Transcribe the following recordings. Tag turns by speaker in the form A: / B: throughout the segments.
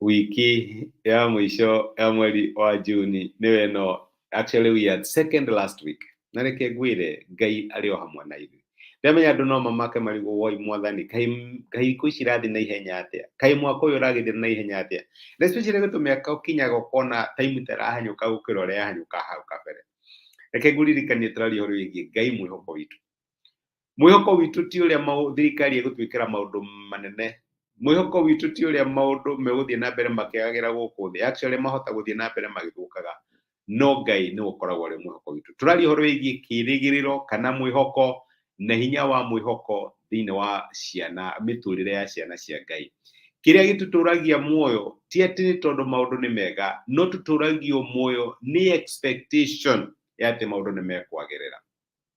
A: wiki ya mwisho ya mweri wa juni niwe no actually we had second last week na reke ngwire ngai arĩ o hamwe na ithuĩ ndamenya andũ no mamake marigũ woi mwathani kaĩ kaĩ ikũ ici irathiĩ na ihenya atĩa kaĩ mwaka ũyũ ũragĩthira na ihenya atĩa na especially gũtũ mĩaka ũkinyaga ũkona time tarahanyũka gũkĩra ũrĩa yahanyũka hau kabere reke ngũririkanie tũraria ũhoro wĩgiĩ ngai mwĩhoko witũ mwĩhoko witũ ti ũrĩa mau- thirikari ĩgũtwĩkĩra maũndũ manene mwĩhoko witũ ti ũrĩa maũndũ megũthiĩ na mbere makĩagagĩra gũkũ thĩ actually mahota gũthiĩ na mbere magĩthũkaga no ngai nĩ ũkoragwo arĩ mwĩhoko witũ tũraria ũhoro wĩgiĩ kĩrĩgĩrĩro kana mwĩhoko na hinya wa mwĩhoko thĩinĩ wa ciana mĩtũrĩre ya ciana cia ngai kĩrĩa gĩtũtũragia muoyo ti atĩ nĩ tondũ maũndũ nĩ mega no tũtũragio muoyo nĩ expectation ya atĩ maũndũ nĩ mekwagĩrĩra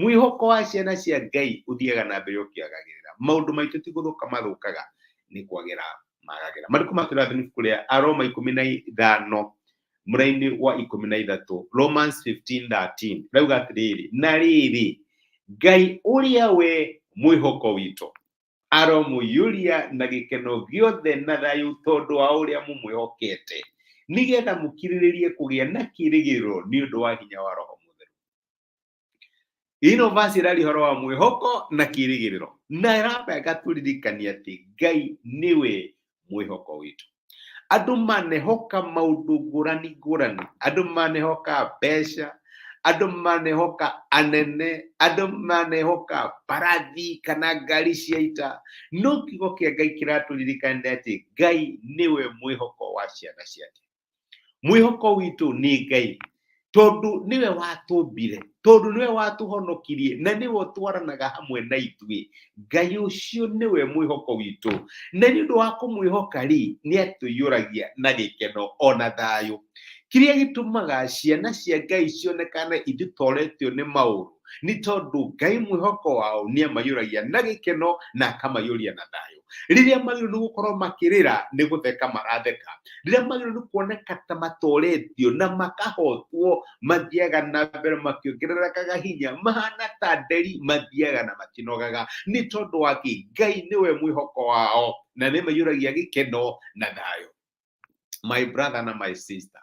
A: mwĩhoko wa ciana cia ngai ũthiaga na mbere ũkĩagagĩrĩra maũndũ maitũ ti gũthũka mathũkaga nĩ kwagĩra magagĩra marĩkũ matũrathini ibuku rĩa aroma ikũmi na ithano mũrainĩ wa ikũmi na ithatũ romans 15:13 rauga atĩrĩrĩ na rĩrĩ ngai ũrĩa we mwĩhoko witũ aromũiyũria na gĩkeno gĩothe na thayũ tondũ wa ũrĩa mũmwĩhokete nĩgetha mũkirĩrĩrie kũgĩa na kĩrĩgĩrĩro nĩ ũndũ wa hinya wa roho mũtheru ino vasi ĩrari horo wa mwĩhoko na kĩrĩgĩrĩro na ĩramba ĩgatũririkania atĩ ngai nĩwe mwĩhoko witũ andũ manehoka maũndũ ngũrani ngũrani andũ manehoka mbeca andũ manehoka anene andũ manehoka mbarathi kana ngari cia ita no kiugo kĩa ngai kĩratũririkania atĩ ngai nĩwe mwĩhoko wa ciana ciake mwĩhoko witũ nĩ ngai tondũ nĩwe watũmbire tondũ nĩwe watũhonokirie na nĩwe ũtwaranaga hamwe na ithuĩ ngai ũcio nĩwe mwĩhoko witũ na nĩ ũndũ wa kũmwĩhoka rĩ nĩ atũiyũragia na gĩkeno ona thayũ kĩrĩa gĩtũmaga ciana cia ngai cionekane ititoretio nĩ maũndũ nĩ tondũ ngai mwĩhoko wao nĩ amaiyũragia na gĩkeno na akamaiyũria na thayũ rĩrĩa magĩrĩirwo nĩ gũkorwo makĩrĩra nĩ gũtheka maratheka rĩrĩa magĩrĩirwo nĩ kuoneka ta matoretio na makahotwo mathiaga na mbere makĩongererekaga hinya mahana ta nderi mathiaga na makĩnogaga nĩ tondũ wa kĩ ngai nĩwe mwĩhoko wao na nĩ maiyũragia gĩkeno na thayũ my brother na my sister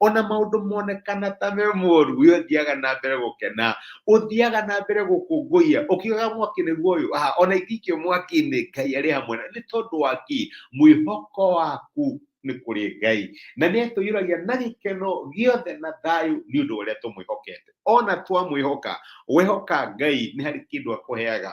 A: ona maũndũ monekana ta me moru we ũthiaga na mbere gũkena ũthiaga na mbere gũkũngũiya ũkiugaga mwaki nĩguo ũyũ aha ona ingĩikio mwaki-inĩ ngai arĩ hamwe na nĩ tondũ wa ki mwĩhoko waku nĩ kũrĩ ngai na nĩ atũiyũragia na gĩkeno gĩothe na thayũ nĩ ũndũ ũrĩa tũmwĩhokete ona twamwĩhoka wehoka ngai nĩ harĩ kĩndũ akũheaga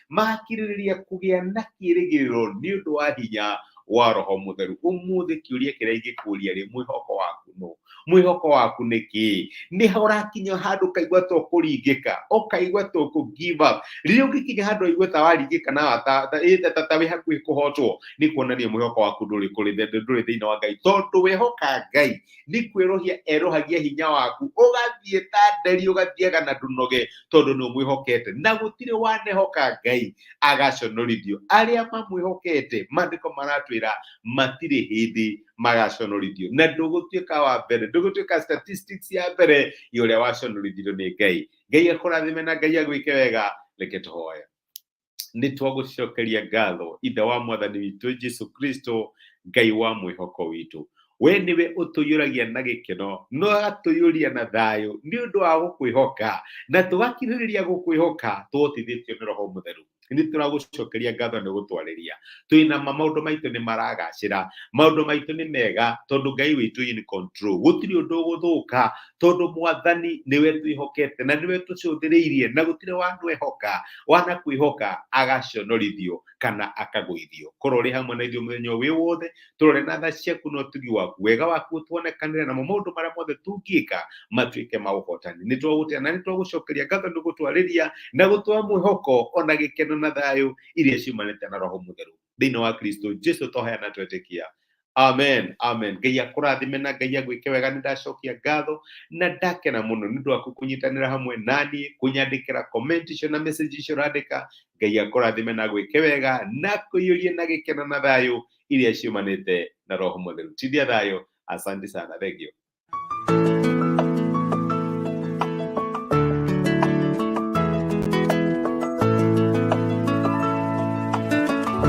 A: makirĩrĩria kũgĩa na kĩĩrĩgĩrĩro nĩ ũndũ wa hinya wa roho mũtheru ũmũthĩ kĩũria kĩrĩa ingĩkũria rĩ mwĩhoko waku nũ mwĩhoko waku nĩ kĩĩ nĩ ũrakinya handũ ũkaigua to kũringĩka ũkaigua to kũ give up rĩrĩa ũngĩkinya handũ waigua ta waringĩka na ta- ta- ĩ- ta- ta- ta wĩ hakuhĩ kũhotwo nĩ kuonania mwĩhoko waku ndũrĩ kũrĩ thĩ- ndũrĩ thĩinĩ wa ngai tondũ wehoka ngai nĩ kwĩrohia erohagia hinya waku ũgathiĩ ta nderi ũgathiaga na ndũnoge tondũ nĩ ũmwĩhokete na gũtirĩ wanehoka ngai agaconorithio arĩa mamwĩhokete maandĩko maratwĩra matirĩ hĩndĩ magaconorithio na ndũgũtuĩka wa mbere ndũgũtuĩka statistics ya mbere ya ũrĩa waconorithirio nĩ ngai ngai akũrathime na ngai agwĩke wega reke tũhoya nĩ twagũcokeria ngatho ithe wa mwathani witũ jesu kristo ngai wa mwĩhoko witũ we nĩwe ũtũiyũragia na gĩkeno no agatũiyũria na thayũ nĩ ũndũ wa gũkwĩhoka na tũgakirĩrĩria gũkwĩhoka tũhotithĩtio nĩ roho mũtheru nĩ tũragũcokeria ngatho nĩ gũtwarĩria twĩ na ma maũndũ maitũ nĩ maragacĩra maũndũ maitũ nĩ mega tondũ ngai witũ in control gũtirĩ ũndũ ũgũthũka tondu mwathani niwe twihokete na niwe tucũthĩrĩirie na gũtirĩ wanwehoka wana kwĩhoka agaconorithio kana akagũithio korwo ũrĩ hamwe na ithuĩ mũthenya wĩ wothe tũrore na tha ciaku na ũtugi waku wega waku ũtuonekanĩre namo maũndũ marĩa mothe tũngĩka matuĩke ma ũhotani nĩ twagũtĩa na nĩ twagũcokeria ngatho nĩ gũtwarĩria na gũtũha mwĩhoko ona gĩkeno na thayũ iria ciumanĩte na roho mũtheru thĩinĩ wa kristo jesu toheana twetĩkia amen amen ngai akũrathime na ngai agwĩke wega nĩ ndacokia ngatho na ndakena mũno nĩ ũndũ waku kũnyitanĩra hamwe naniĩ kũnyandĩkĩra comment icio na message icio ũrandĩka ngai akũrathime na agwĩke wega na kũiyũrie na gĩkeno na thayũ iria ciumanĩte na roho mũtheru tithia thayũ asante sana thengio